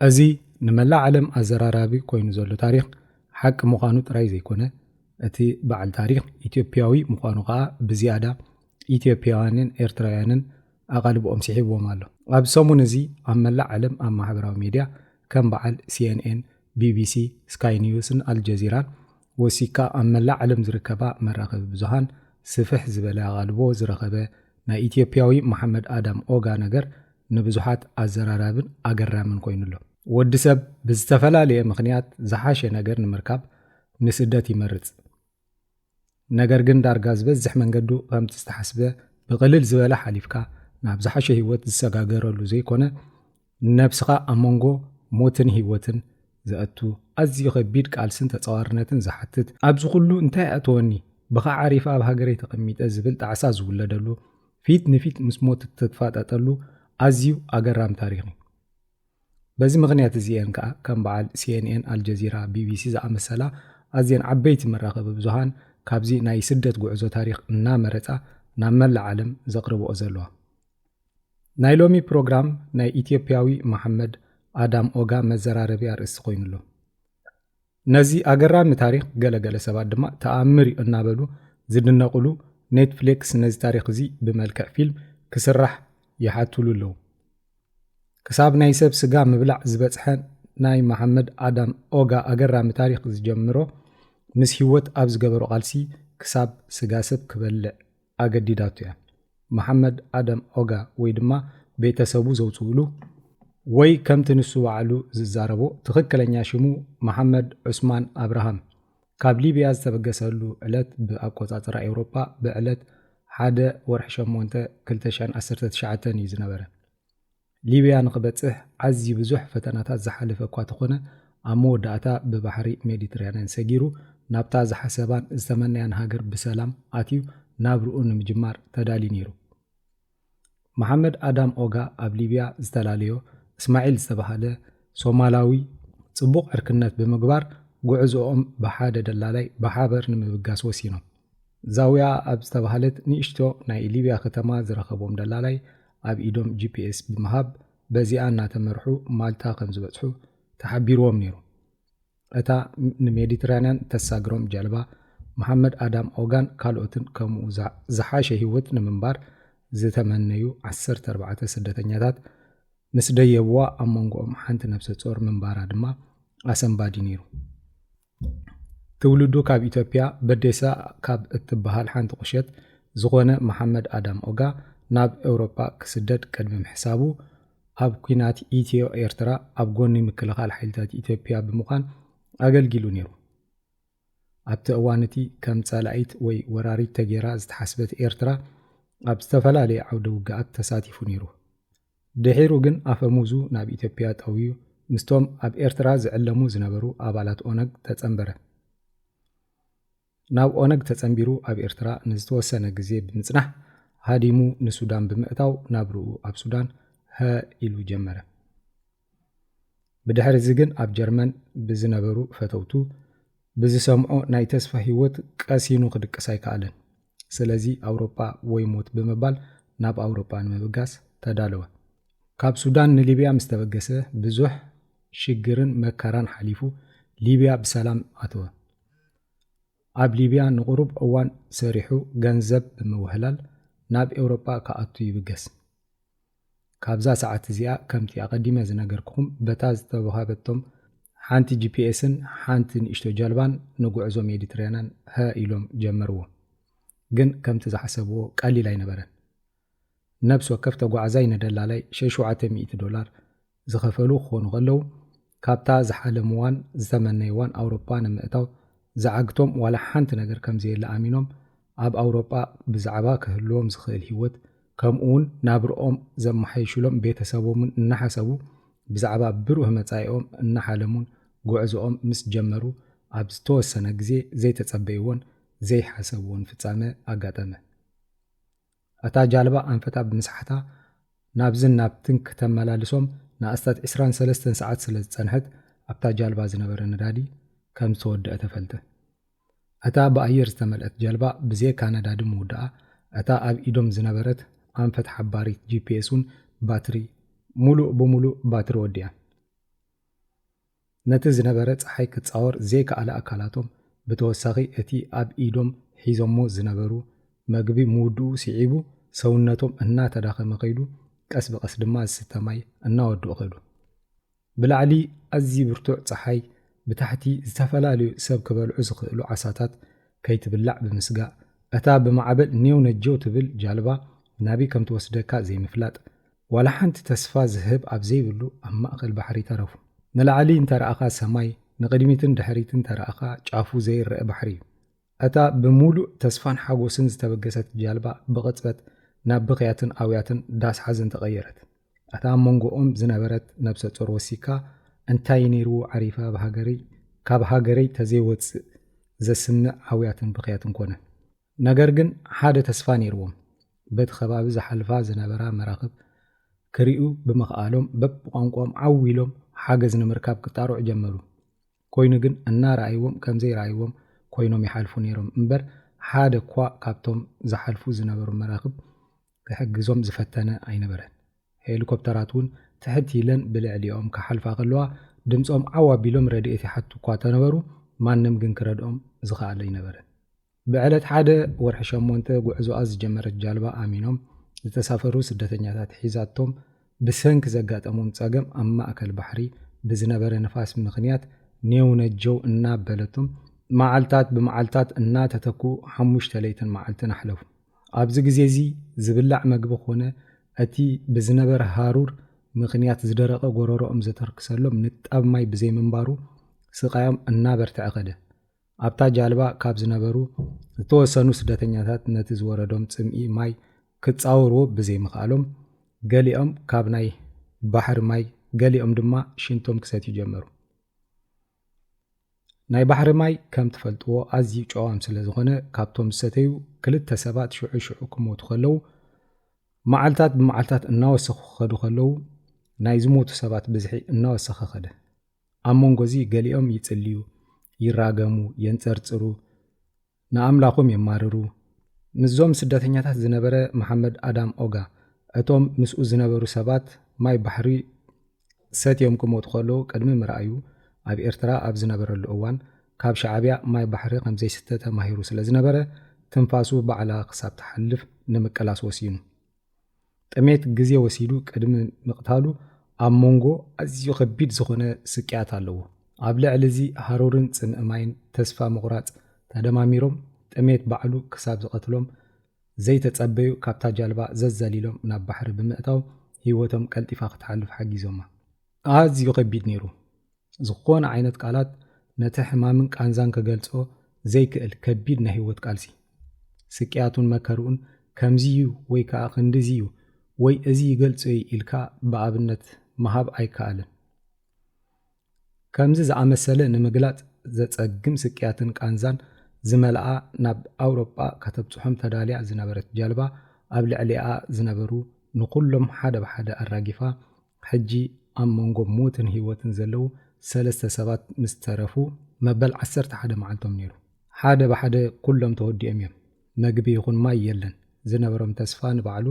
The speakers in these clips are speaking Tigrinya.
እዚ ንመላእ ዓለም ኣዘራራቢ ኮይኑ ዘሎ ታሪኽ ሓቂ ምዃኑ ጥራይ ዘይኮነ፣ እቲ በዓል ታሪኽ ኢትዮጵያዊ ምዃኑ ከኣ ብዝያዳ ኢትዮጵያውያንን ኤርትራውያንን ኣቓልቦኦም ስሒብዎም ኣሎ። ኣብዚ ሰሙን እዚ ኣብ መላእ ዓለም ኣብ ማሕበራዊ ሚድያ ከም በዓል ሲኤንኤን፣ ቢቢሲ፣ ስካይ ኒውስን ኣልጀዚራን ወሲኽካ ኣብ መላእ ዓለም ዝርከባ መራኸቢ ብዙሃን ስፍሕ ዝበለ ኣቓልቦ ዝረኸበ ናይ ኢትዮጵያዊ መሓመድ ኣዳም ኦጋ ነገር ንብዙሓት ኣዘራራብን ኣገራምን ኮይኑ ኣሎ። ወዲ ሰብ ብዝተፈላለየ ምኽንያት ዝሓሸ ነገር ንምርካብ ንስደት ይመርጽ። ነገር ግን ዳርጋ ዝበዝሕ መንገዱ ከምቲ ዝተሓስበ ብቕልል ዝበለ ሓሊፍካ ናብ ዝሓሸ ህይወት ዝሰጋገረሉ ዘይኮነ ንነብስኻ ኣብ መንጎ ሞትን ህይወትን ዘእቱ ኣዝዩ ከቢድ ቃልስን ተጻዋርነትን ዝሓትት ኣብዚ ኩሉ እንታይ ኣእተወኒ ብኻ ዓሪፈ ኣብ ሃገረይ ተቐሚጠ ዝብል ጣዕሳ ዝውለደሉ ፊት ንፊት ምስ ሞት እትፋጠጠሉ ኣዝዩ ኣገራሚ ታሪኽ እዩ። በዚ ምኽንያት እዚ እየን ከኣ ከም በዓል ሲኤንኤን፣ ኣልጀዚራ፣ ቢቢሲ ዝኣመሰላ ኣዝየን ዓበይቲ መራኸቢ ብዙሃን ካብዚ ናይ ስደት ጉዕዞ ታሪኽ እናመረጻ ናብ መላእ ዓለም ዘቕርብኦ ዘለዋ። ናይ ሎሚ ፕሮግራም ናይ ኢትዮጵያዊ መሓመድ ኣዳም ኦጋ መዘራረቢ ኣርእስቲ ኮይኑ ኣሎ። ነዚ ኣገራሚ ታሪኽ ገለ ገለ ሰባት ድማ ተኣምር እዩ እናበሉ ዝድነቕሉ ኔትፍሌክስ ነዚ ታሪኽ እዚ ብመልክዕ ፊልም ክስራሕ ይሓቱሉ ኣለዉ። ክሳብ ናይ ሰብ ስጋ ምብላዕ ዝበጽሐ ናይ መሓመድ ኣዳም ኦጋ ኣገራሚ ታሪኽ ዝጀምሮ ምስ ህይወት ኣብ ዝገበሮ ቃልሲ ክሳብ ስጋ ሰብ ክበልዕ ኣገዲዳቶ እያ። መሓመድ ኣደም ኦጋ ወይ ድማ ቤተሰቡ ዘውጽኡሉ ወይ ከምቲ ንሱ ባዕሉ ዝዛረቦ ትኽክለኛ ሽሙ መሓመድ ዑስማን ኣብርሃም ካብ ሊብያ ዝተበገሰሉ ዕለት ብኣቆጻጽራ ኤውሮጳ ብዕለት ሓደ ወርሒ ሸሞንተ ክልተ ሺሕን ዓሰርተ ትሽዓተን እዩ ዝነበረ። ሊብያ ንኽበጽሕ ኣዝዩ ብዙሕ ፈተናታት ዝሓለፈ እኳ ተኾነ፣ ኣብ መወዳእታ ብባሕሪ ሜዲትራንያን ሰጊሩ ናብታ ዝሓሰባን ዝተመነያን ሃገር ብሰላም ኣትዩ ናብርኡ ንምጅማር ተዳልዩ ነይሩ። መሓመድ ኣዳም ኦጋ ኣብ ሊብያ ዝተላለዮ እስማዒል ዝተባህለ ሶማላዊ ጽቡቕ ዕርክነት ብምግባር ጉዕዝኦም ብሓደ ደላላይ ብሓበር ንምብጋስ ወሲኖም። ዛውያ ኣብ ዝተባህለት ንእሽቶ ናይ ሊብያ ከተማ ዝረኸቦም ደላላይ ኣብ ኢዶም ጂፒኤስ ብምሃብ በዚኣ እናተመርሑ ማልታ ከምዝበጽሑ ተሓቢሩዎም ነይሩ። እታ ንሜዲትራንያን እተሳግሮም ጃልባ፣ መሓመድ ኣዳም ኦጋን ካልኦትን ከምኡ ዝሓሸ ህይወት ንምንባር ዝተመነዩ ዓሰርተ ኣርባዕተ ስደተኛታት ምስ ደየቡዋ ኣብ መንጎኦም ሓንቲ ነብሰ ጾር ምንባራ ድማ ኣሰንባዲ ነይሩ። ትውልዱ ካብ ኢትዮጵያ በዴሳ ካብ እትበሃል ሓንቲ ቁሸት ዝኾነ መሓመድ ኣዳም ኦጋ ናብ ኤውሮፓ ክስደድ ቅድሚ ምሕሳቡ ኣብ ኲናት ኢትዮ ኤርትራ ኣብ ጎኒ ምክልኻል ሓይልታት ኢትዮጵያ ብምዃን ኣገልጊሉ ነይሩ። ኣብቲ እዋን እቲ ከም ጸላኢት ወይ ወራሪት ተጌራ ዝተሓስበት ኤርትራ ኣብ ዝተፈላለየ ዓውደ ውግኣት ተሳቲፉ ነይሩ። ድሒሩ ግን ኣፈሙዙ ናብ ኢትዮጵያ ጠውዩ ምስቶም ኣብ ኤርትራ ዝዕለሙ ዝነበሩ ኣባላት ኦነግ ተጸንበረ። ናብ ኦነግ ተጸንቢሩ ኣብ ኤርትራ ንዝተወሰነ ግዜ ብምጽናሕ ሃዲሙ ንሱዳን ብምእታው ናብርኡ ኣብ ሱዳን ሀ ኢሉ ጀመረ። ብድሕርዚ ግን ኣብ ጀርመን ብዝነበሩ ፈተውቱ ብዝሰምዖ ናይ ተስፋ ህይወት ቀሲኑ ክድቅስ ኣይከኣለን። ስለዚ ኣውሮጳ ወይ ሞት ብምባል ናብ ኣውሮጳ ንምብጋስ ተዳለወ። ካብ ሱዳን ንሊብያ ምስ ተበገሰ ብዙሕ ሽግርን መከራን ሓሊፉ ሊብያ ብሰላም ኣተወ። ኣብ ሊብያ ንቑሩብ እዋን ሰሪሑ ገንዘብ ብምውህላል ናብ ኤውሮጳ ክኣቱ ይብገስ። ካብዛ ሰዓት እዚኣ ከምቲ ኣቐዲመ ዝነገርኩኹም በታ ዝተወሃበቶም ሓንቲ ጂፒኤስን ሓንቲ ንእሽቶ ጃልባን ንጉዕዞ ሜዲትራንያን ሀ ኢሎም ጀመርዎ። ግን ከምቲ ዝሓሰብዎ ቀሊል ኣይነበረን። ነብሲ ወከፍ ተጓዓዛይ ንደላላይ ሸሹዓተ ሚእቲ ዶላር ዝኸፈሉ ክኾኑ ከለው፣ ካብታ ዝሓለምዋን ዝተመነይዋን ኣውሮጳ ንምእታው ዝዓግቶም ዋላ ሓንቲ ነገር ከምዘየለ ኣሚኖም ኣብ ኣውሮጳ ብዛዕባ ክህልዎም ዝኽእል ህይወት ከምኡውን ናብርኦም ዘመሓይሹሎም ቤተሰቦምን እናሓሰቡ ብዛዕባ ብሩህ መጻኢኦም እናሓለሙን ጉዕዞኦም ምስ ጀመሩ ኣብ ዝተወሰነ ግዜ ዘይተጸበይዎን ዘይሓሰብዎን ፍጻመ ኣጋጠመ። እታ ጃልባ ኣንፈታ ብምስሓታ ናብዝን ናብትን ክተመላልሶም ንኣስታት ዕስራን ሰለስተን ሰዓት ስለ ዝጸንሐት ኣብታ ጃልባ ዝነበረ ነዳዲ ከም ዝተወደኣ ተፈልጠ። እታ ብኣየር ዝተመልኣት ጀልባ ብዜካ ነዳዲ ምውዳኣ እታ ኣብ ኢዶም ዝነበረት ኣንፈት ሓባሪት ጂፒኤስ ውን ባትሪ ሙሉእ ብሙሉእ ባትሪ ወዲኣ። ነቲ ዝነበረ ጸሓይ ክጻወር ዘይከኣለ ኣካላቶም ብተወሳኺ እቲ ኣብ ኢዶም ሒዞሞ ዝነበሩ መግቢ ምውድኡ ስዒቡ ሰውነቶም እናተዳኸመ ከይዱ ቀስ ብቐስ ድማ ዝስተ ማይ እናወድኡ ከዱ። ብላዕሊ ኣዝዪ ብርቱዕ ጸሓይ ብታሕቲ ዝተፈላለዩ ሰብ ክበልዑ ዝኽእሉ ዓሳታት ከይትብላዕ ብምስጋእ እታ ብማዕበል ኔው ነጀው ትብል ጃልባ ናብይ ከምትወስደካ ዘይምፍላጥ ዋላ ሓንቲ ተስፋ ዝህብ ኣብ ዘይብሉ ኣብ ማእከል ባሕሪ ተረፉ። ንላዕሊ እንተ ረኣኻ ሰማይ፣ ንቕድሚትን ድሕሪት እንተ ረኣኻ ጫፉ ዘይረኣ ባሕሪ እዩ። እታ ብምሉእ ተስፋን ሓጎስን ዝተበገሰት ጃልባ ብቕጽበት ናብ ብኽያትን ኣውያትን ዳስ ሓዘን ተቐየረት። እታ ኣብ መንጎኦም ዝነበረት ነብሰ ጾር ወሲካ እንታይ ነይርዎ ዓሪፈ ኣብ ሃገረይ ካብ ሃገረይ ተዘይወጽእ ዘስምዕ ኣውያትን ብኽያትን ኮነ። ነገር ግን ሓደ ተስፋ ነይርዎም፣ በቲ ከባቢ ዝሓልፋ ዝነበራ መራኽብ ክሪኡ ብምኽኣሎም በብቋንቋኦም ዓው ኢሎም ሓገዝ ንምርካብ ክጣርዑ ጀመሩ። ኮይኑ ግን እናረኣይዎም ከምዘይረኣይዎም ኮይኖም ይሓልፉ ነይሮም እምበር ሓደ'ኳ ካብቶም ዝሓልፉ ዝነበሩ መራኽብ ክሕግዞም ዝፈተነ ኣይነበረን። ሄሊኮፕተራት'ውን ትሕት ኢለን ብልዕሊኦም ክሓልፋ ከለዋ ድምጾም ዓው ኣቢሎም ረድኤት ይሓቱ'ኳ ተነበሩ ማንም ግን ክረድኦም ዝኸኣል ኣይነበረን። ብዕለት ሓደ ወርሒ ሸሞንተ ጉዕዞኣ ዝጀመረት ጃልባ ኣሚኖም ዝተሳፈሩ ስደተኛታት ሒዛቶም ብሰንኪ ዘጋጠሞም ፀገም ኣብ ማእከል ባሕሪ ብዝነበረ ንፋስ ምኽንያት ኔው ነጀው እናበለቶም መዓልታት ብመዓልታት እናተተክኡ ሓሙሽተ ለይትን መዓልትን ኣሕለፉ። ኣብዚ ግዜ እዚ ዝብላዕ መግቢ ኮነ እቲ ብዝነበረ ሃሩር ምኽንያት ዝደረቐ ጎረሮኦም ዘተርክሰሎም ንጣብ ማይ ብዘይምንባሩ ስቓዮም እናበርተዐ ከደ። ኣብታ ጃልባ ካብ ዝነበሩ ዝተወሰኑ ስደተኛታት ነቲ ዝወረዶም ጽምኢ ማይ ክጻወርዎ ብዘይምኽኣሎም ገሊኦም ካብ ናይ ባሕሪ ማይ ገሊኦም ድማ ሽንቶም ክሰትዩ ጀመሩ። ናይ ባሕሪ ማይ ከም ትፈልጥዎ ኣዝዩ ጨዋም ስለ ዝኾነ ካብቶም ዝሰተዩ ክልተ ሰባት ሽዑ ሽዑ ክሞቱ ከለዉ መዓልታት ብመዓልታት እናወሰኹ ክኸዱ ከለዉ ናይ ዝሞቱ ሰባት ብዝሒ እናወሰኸ ኸደ። ኣብ መንጎ እዚ ገሊኦም ይጽልዩ፣ ይራገሙ፣ የንጸርጽሩ፣ ንኣምላኾም የማርሩ። ምስዞም ስደተኛታት ዝነበረ መሓመድ ኣዳም ኦጋ፣ እቶም ምስኡ ዝነበሩ ሰባት ማይ ባሕሪ ሰትዮም ክሞቱ ከለዉ ቅድሚ ምርኣዩ፣ ኣብ ኤርትራ ኣብ ዝነበረሉ እዋን ካብ ሻዕብያ ማይ ባሕሪ ከምዘይስተ ተማሂሩ ስለዝነበረ ትንፋሱ ባዕላ ክሳብ ትሓልፍ ንምቅላስ ወሲኑ። ጥሜት ግዜ ወሲዱ ቅድሚ ምቕታሉ ኣብ ሞንጎ ኣዝዩ ከቢድ ዝኾነ ስቅያት ኣለዎ። ኣብ ልዕሊ እዚ ሃሩርን ጽምኢ ማይን ተስፋ ምቑራጽ ተደማሚሮም ጥሜት ባዕሉ ክሳብ ዝቐትሎም ዘይተጸበዩ ካብታ ጃልባ ዘዛሊሎም ናብ ባሕሪ ብምእታው ህይወቶም ቀልጢፋ ክትሓልፍ ሓጊዞማ። ኣዝዩ ከቢድ ነይሩ። ዝኾነ ዓይነት ቃላት ነቲ ሕማምን ቃንዛን ክገልጾ ዘይክእል ከቢድ ናይ ህይወት ቃልሲ። ስቅያቱን መከርኡን ከምዚ'ዩ ወይ ከኣ ክንድዚ'ዩ ወይ እዚ ይገልጾ'ዩ ኢልካ ብኣብነት ምሃብ ኣይከኣልን። ከምዚ ዝኣመሰለ ንምግላጽ ዘጸግም ስቅያትን ቃንዛን ዝመልኣ ናብ ኣውሮጳ ከተብጽሖም ተዳልያ ዝነበረት ጃልባ ኣብ ልዕሊኣ ዝነበሩ ንኹሎም ሓደ ብሓደ ኣራጊፋ ሕጂ ኣብ መንጎ ሞትን ህይወትን ዘለዉ ሰለስተ ሰባት ምስ ተረፉ መበል ዓሰርተ ሓደ መዓልቶም ነይሩ። ሓደ ብሓደ ኩሎም ተወዲኦም እዮም። መግቢ ይኹን ማይ የለን። ዝነበሮም ተስፋ ንባዕሉ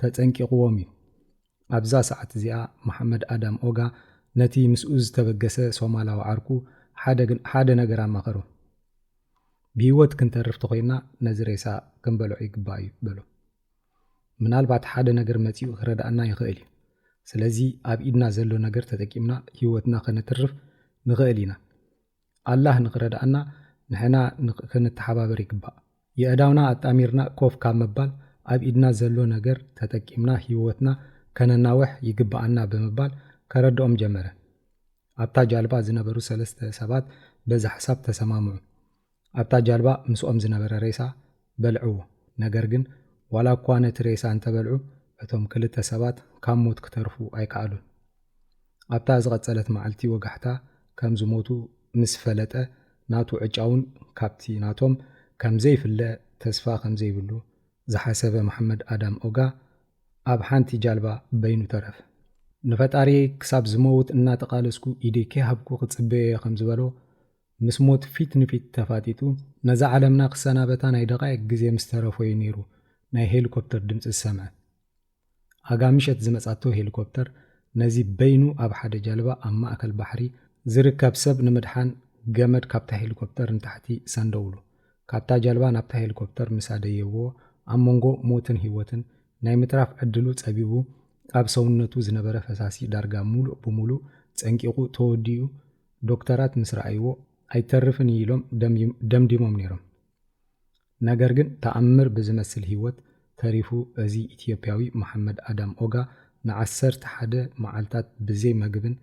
ተጸንቂቑዎም እዩ። ኣብዛ ሰዓት እዚኣ መሓመድ ኣዳም ኦጋ ነቲ ምስኡ ዝተበገሰ ሶማላዊ ዓርኩ ሓደ ነገር ኣማኸሮ። ብህይወት ክንተርፍ ተኾይና ነዚ ሬሳ ክንበልዖ ይግባእ እዩ በሎ። ምናልባት ሓደ ነገር መጺኡ ክረድኣና ይኽእል እዩ። ስለዚ ኣብ ኢድና ዘሎ ነገር ተጠቂምና ህይወትና ከነትርፍ ንኽእል ኢና። ኣላህ ንኽረድኣና ንሕና ክንተሓባበር ይግባእ። የእዳውና ኣጣሚርና ኮፍ ካብ ምባል ኣብ ኢድና ዘሎ ነገር ተጠቂምና ህይወትና ከነናውሕ ይግብኣና ብምባል ከረድኦም ጀመረ። ኣብታ ጃልባ ዝነበሩ ሰለስተ ሰባት በዚ ሓሳብ ተሰማምዑ። ኣብታ ጃልባ ምስኦም ዝነበረ ሬሳ በልዕዎ፣ ነገር ግን ዋላ እኳ ነቲ ሬሳ እንተበልዑ እቶም ክልተ ሰባት ካብ ሞት ክተርፉ ኣይከኣሉን። ኣብታ ዝቐጸለት መዓልቲ ወጋሕታ ከም ዝሞቱ ምስ ፈለጠ ናቱ ዕጫ'ውን ካብቲ ናቶም ከም ዘይፍለ ተስፋ ከም ዘይብሉ ዝሓሰበ መሓመድ ኣዳም ኦጋ ኣብ ሓንቲ ጃልባ በይኑ ተረፈ። ንፈጣሪየይ ክሳብ ዝመውት እናተቓለስኩ ኢደይ ከይሃብኩ ክጽበዮ'የ ከም ዝበሎ ምስ ሞት ፊት ንፊት ተፋጢጡ ነዛ ዓለምና ክሰናበታ ናይ ደቓይቅ ግዜ ምስ ተረፎ'ዩ ነይሩ ናይ ሄሊኮፕተር ድምጺ ዝሰምዐ። ኣጋ ምሸት ዝመጻቶ ሄሊኮፕተር ነዚ በይኑ ኣብ ሓደ ጃልባ ኣብ ማእከል ባሕሪ ዝርከብ ሰብ ንምድሓን ገመድ ካብታ ሄሊኮፕተር ንታሕቲ ሰንደውሉ። ካብታ ጃልባ ናብታ ሄሊኮፕተር ምስ ኣደየብዎ ኣብ መንጎ ሞትን ህይወትን ናይ ምትራፍ ዕድሉ ጸቢቡ ኣብ ሰውነቱ ዝነበረ ፈሳሲ ዳርጋ ምሉእ ብምሉእ ጸንቂቑ ተወዲኡ ዶክተራት ምስ ረኣይዎ ኣይተርፍን እዩ ኢሎም ደምዲሞም ነይሮም። ነገር ግን ተኣምር ብዝመስል ህይወት ተሪፉ እዚ ኢትዮጵያዊ መሓመድ ኣዳም ኦጋ ንዓሰርተ ሓደ መዓልታት ብዘይ መግብን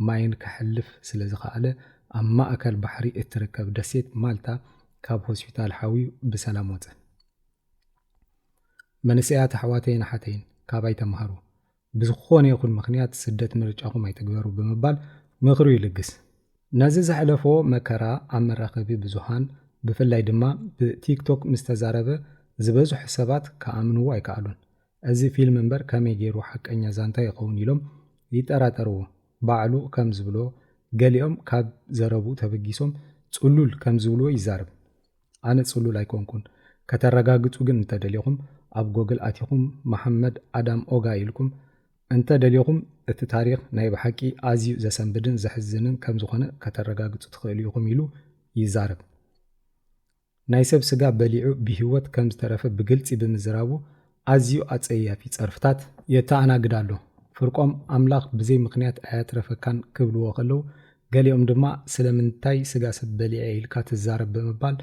ማይን ከሕልፍ ስለዝኸኣለ ኣብ ማእከል ባሕሪ እትርከብ ደሴት ማልታ ካብ ሆስፒታል ሓውዩ ብሰላም ወጸ። መንእሰያት ኣሕዋተይን ኣሓተይን ካባይ ተማሃሩ። ብዝኾነ ይኹን ምኽንያት ስደት ምርጫኹም ኣይትግበሩ ብምባል ምኽሩ ይልግስ። ነዚ ዘሕለፎ መከራ ኣብ መራኸቢ ብዙሃን ብፍላይ ድማ ብ ቲክቶክ ምስ ተዛረበ ዝበዝሑ ሰባት ክኣምንዎ ኣይከኣሉን። እዚ ፊልም እምበር ከመይ ገይሩ ሓቀኛ ዛንታ ይኸውን ኢሎም ይጠራጠርዎ። ባዕሉ ከም ዝብሎ ገሊኦም ካብ ዘረብኡ ተበጊሶም ጽሉል ከም ዝብልዎ ይዛረብ። ኣነ ጽሉል ኣይኮንኩን ከተረጋግጹ ግን እንተ ደሊኹም ኣብ ጎግል ኣቲኹም መሓመድ ኣዳም ኦጋ ኢልኩም እንተ ደሊኹም እቲ ታሪኽ ናይ ብሓቂ ኣዝዩ ዘሰንብድን ዘሕዝንን ከም ዝኾነ ከተረጋግጹ ትኽእሉ ኢኹም ኢሉ ይዛረብ ናይ ሰብ ስጋ በሊዑ ብሂወት ከም ዝተረፈ ብግልጺ ብምዝራቡ ኣዝዩ ኣጸያፊ ጸርፍታት የተኣናግድ ኣሎ። ፍርቆም ኣምላኽ ብዘይ ምኽንያት ኣየትረፈካን ክብልዎ ከለው፣ ገሊኦም ድማ ስለምንታይ ስጋ ሰብ በሊዐ ኢልካ ትዛረብ ብምባል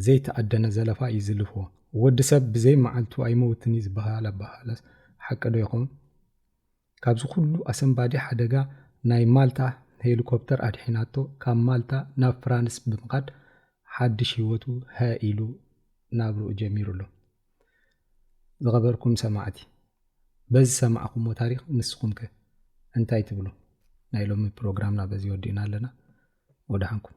ዘይተኣደነ ዘለፋ እዩ ዝልፍዎ። ወዲ ሰብ ብዘይ መዓልቱ ኣይመውትን'ዩ ዝበሃል ኣበሃህላስ ሓቂዶ ይኸውን? ካብዚ ኩሉ ኣሰንባዲ ሓደጋ ናይ ማልታ ሄሊኮፕተር ኣድሒናቶ ካብ ማልታ ናብ ፍራንስ ብምኻድ ሓድሽ ህይወቱ ሃእ ኢሉ ናብርኡ ጀሚሩ ኣሎ። ዝኸበርኩም ሰማዕቲ በዚ ሰማዕኹሞ ታሪኽ ንስኹም ከ እንታይ ትብሉ? ናይ ሎሚ ፕሮግራምና በዚ ወዲእና ኣለና። ወደሓንኩም